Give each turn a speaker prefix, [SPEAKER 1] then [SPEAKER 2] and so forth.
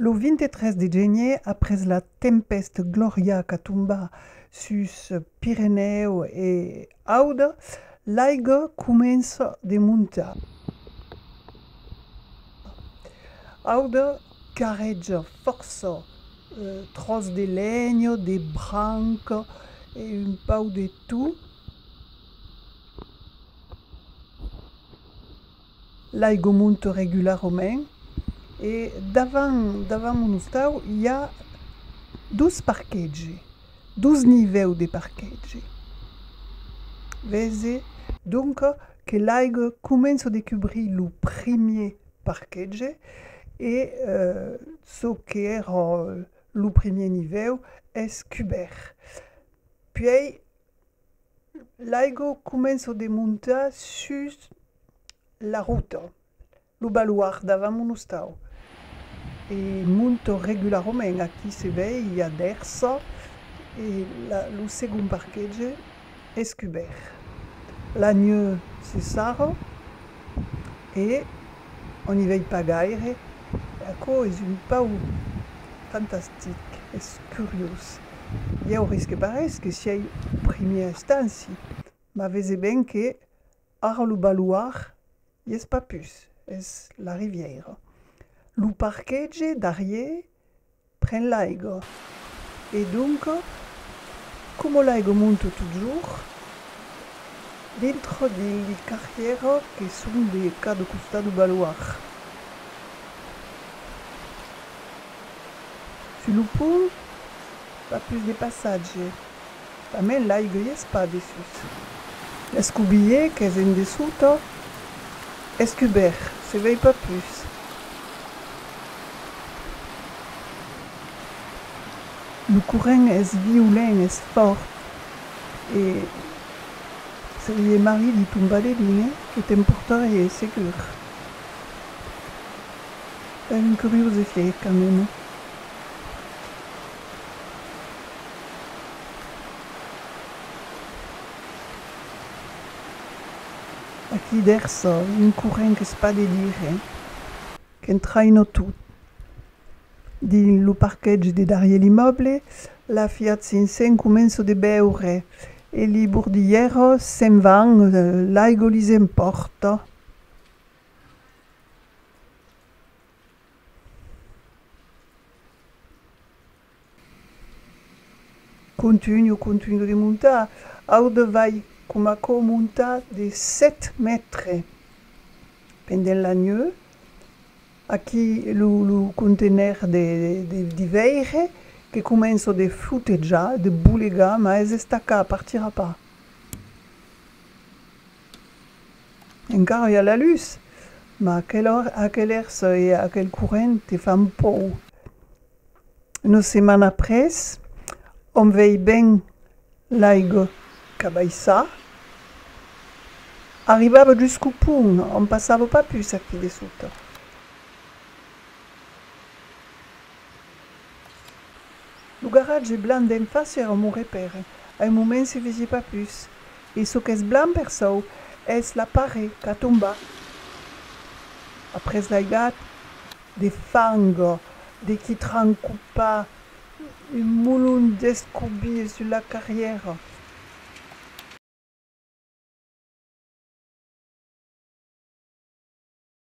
[SPEAKER 1] Lo 23 de genier, après la tempèst Gloria qu'a tombat sus Pirenèu e Aude, l'aiga comença de montar. Aude carreja fòrça tròç de lenha, de branca e un pauc de tot. L'aigomont regularament e davant davant mon ostau i a dos parquetgi, dos nivèu de parquetgi. Vese donc que l'aiga comença de cubrir lo primier parquetge e çò que èra lo primier nivèu es cubèrt. Puèi L'aigo començo de montar sus la rota, lo baluard davant mon ostau. E monto regularament, aquí se vei i a dèrsa e lo segond parquetge es cubèrt. La nheu se sarra e. On i vei pas gaire e aquò es un pauc fantastic, es curiós. Ieu risque parés que siei primièr estanci, mas vese ben que ara lo baloir i es pas pus, es la rivièira. Lo parquetge darrier Pren l'aigo. E donco, como l'aigo monto totjorn dintro de li carrièra que son de cada costat do baloir, sus lo pont pas pus de passatge. Tanben l'aiglies pas dessús. L'escubier qu'es en dessota es cubèrt, se vei pas pus. Lo corrent es violent, es fòrt e se li hè marrit li tombade dine que t'emportarie segur. Es un curiós efèit quand meme. Aquí dèrs'o un corrent qu'es pas de dire qu'entraino tot. Dins lo parquetge de darrier l'immòble, la Fiat 500 començo de beure e li bordilhèros se'n van, l'aigo lis empòrto. Contunho, contunho de montar, aude vai coma quò montar de sèt mètre pendent la neu, aquí lo lo contener de de veire que començo de flotejar, de bolegar, mas es estacà, partira pas. Encara i a la lutz, mas aquel ers e aquel corrent te fan pòur. Una setmana après, òm vei ben l'aiga qu'abaissar. Arribava jusqu'au pont, òm passava pas pus aquí dessota. Lo garatge blanc d'en fàcia èra un mon repère. A un moment se vesie pas pus. E çò qu'es blanc per çò, es la parè qu'a tombat après l'aigat de fang de qui trancopa un molon d'escobir sus la carrièra.